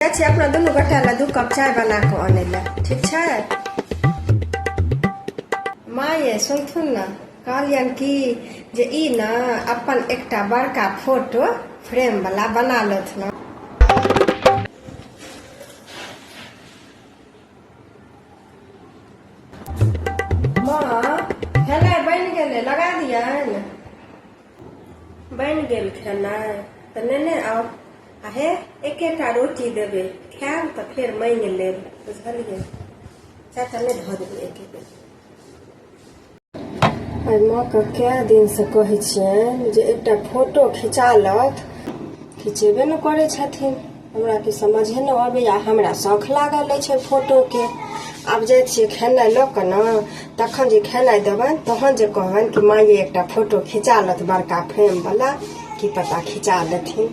जाइ छी अपना दुनू गोटा लए दू कप चाय बना कऽ अनै लए ठीक छै माँ ये सुनथुन ने कहलियन कि जे ई ने अपन एकटा बड़का फोटो फ्रेम वाला बना लेथुन माँ हेलै बनि गेलै लगा दियनि बनि गेल खेनाइ तऽ नेने आउ आ हे एकेटा रोटी देबै खायब तऽ फेर मांगि लेब बुझलियै चाचा नहि धऽ देबै एके बेर एहि माँके कए दिनसँ कहै छियनि जे एकटा फोटो खिचा लथ खिचेबे ने करै छथिन हमरा की समझे न अबैया हमरा शौख लागल अछि ओहि फोटो के आब जाइ छियै खेनाइ लऽ कऽ ने तखन जे खेनाइ देबनि तहन जे कहबनि कि माँ ये एकटा फोटो खिचा लथ बड़का फ्रेम वाला की पता खिचा लेथिन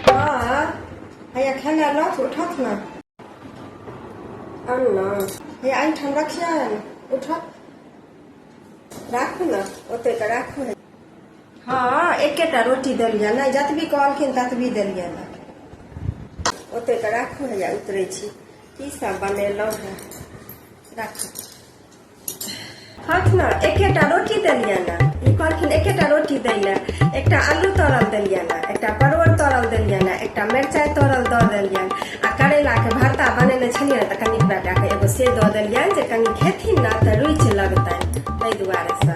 हाँ हैया खेनाइ लथ उठथ ने आन ने हे एहिठाम रखियनि उठथ राखू ने ओते तऽ राखू हँ एकेटा रोटी देलियै नहि जतबी कहलखिन ततबी देलियै ने ओते तऽ राखू हैया उतरै छी की सब बनेलहुँ हेँ राखू हक ने एकेटा रोटी देलियै ने ई कहलखिन एकेटा रोटी दै लए एकटा आलू तरल देलियै ने एकटा परोर तरल देलियै ने एकटा मिरचाइ तरल दऽ देलियनि आ करैलाके भरता बनेने छलियै ने तऽ कनि ओकरा कए कऽ एगो से दऽ देलियनि जे कनि खेथिन ने तऽ रुचि लगतनि ताहि दुआरे से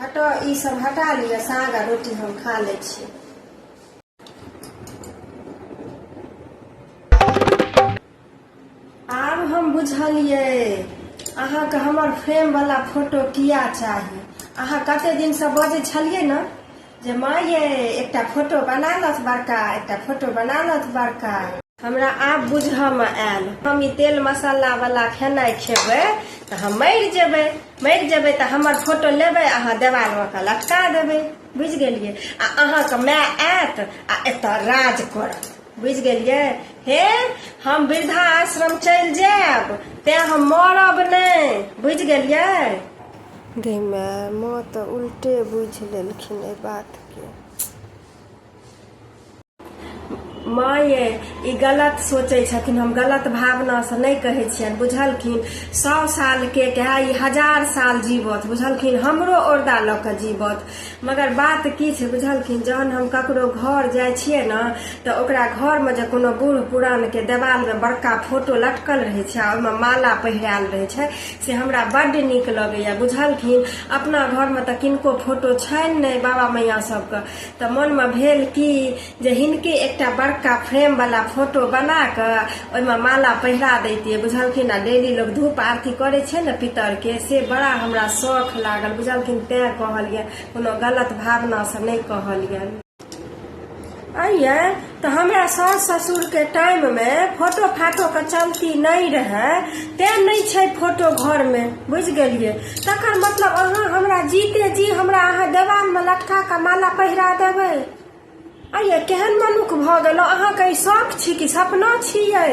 हटो ई सब हटा लिअ साग आ रोटी हम खा लै छी आब हम बुझलियै अहाँके हमर फ्रेम वाला फोटो किया चाही अहाँ कते दिन से बजै छलियै ने जे माँ ये एकटा फोटो बना लथ बड़का एकटा फोटो बना लथ बड़का हमरा आब बुझऽमे आयल हम ई तेल मसाला वाला खेनाइ खेबै तऽ हम मरि जेबै मरि जेबै तऽ हमर फोटो लेबै अहाँ देवालमे कऽ लटका देबै बुझि गेलियै आ अहाँके माय आयत आ एतऽ राज करत बुझि गेलियै हे हम वृद्धा आश्रम चलि जायब तेँ हम मरब नहि बुझि गेलियै गई माय माँ तऽ उल्टे बुझि लेलखिन एहि बातके माँ ये ई गलत सोचै छथिन हम गलत भावनासँ नहि कहै छियनि बुझलखिन सए सालके कहे ई हजार साल जीवत बुझलखिन हमरो औरदा लऽ कऽ जीवत मगर बात की छै बुझलखिन जहन हम ककरो घर जाइ छियै ने तऽ ओकरा घरमे जे कोनो बूढ़ पुरानके देवालमे बड़का फोटो लटकल रहै छै आ ओहिमे माला पहिरायल रहै छै से हमरा बड्ड नीक लगैए बुझलखिन अपना घरमे तऽ किनको फोटो छनि नहि बाबा मैया सभके तऽ मनमे भेल कि जे हिनके एकटा बड़का फ्रेम वाला फोटो बना कऽ ओहिमे माला पहिरा दैतियै बुझलखिन आ डेली लोग धूप आरती करै छै ने पितर के से बड़ा हमरा शौख लागल बुझलखिन तैं कहलियनि कोनो गलत भावना से नहि कहलियनि अइयै तऽ हमरा सास ससुरके टाइममे फोटो फाटोके चलती नहि रहै तैँ नहि छै फोटो घरमे बुझि गेलियै तकर मतलब अहाँ हमरा जीते जी हमरा अहाँ देवालमे लटका कऽ माला पहिरा देबै अये केहन मनुख भऽ गेलहुँ अहाँके ई शौक छी कि सपना छियै